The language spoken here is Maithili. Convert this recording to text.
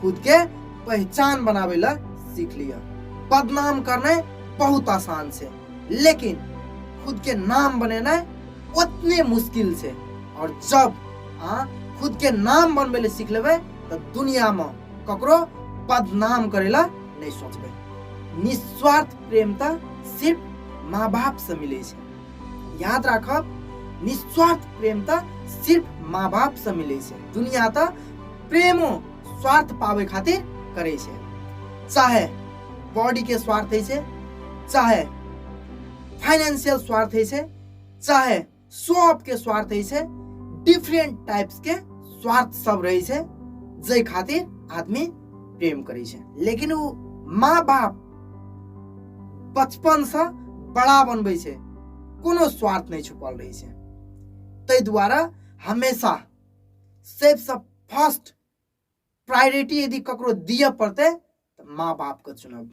खुद के पहचान बनावे ला सीख लिया बदनाम करने बहुत आसान से लेकिन खुद के नाम बनेना उतने मुश्किल से और जब हाँ खुद के नाम बनवे ले सीख लेवे तो दुनिया में ककरो बदनाम करेला नहीं सोचबे निस्वार्थ प्रेम तो सिर्फ माँ बाप से मिले छे याद राखब निस्वार्थ प्रेम तो सिर्फ माँ बाप से मिले छे दुनिया तो प्रेमो स्वार्थ पावे खातिर करे छे चाहे बॉडी के स्वार्थ है छे चाहे फाइनेंशियल स्वार्थ है छे चाहे शॉप के स्वार्थ है छे डिफरेंट टाइप्स के स्वार्थ सब रहे छे जय खातिर आदमी प्रेम करे छे लेकिन वो माँ बाप बचपन से बड़ा बनबे छे कोनो स्वार्थ नहीं छुपल रहे छे तै द्वारा हमेशा सबसँ फर्स्ट प्रायोरिटी यदि ककरो दिअ पड़तै तऽ माँ बापके चुनब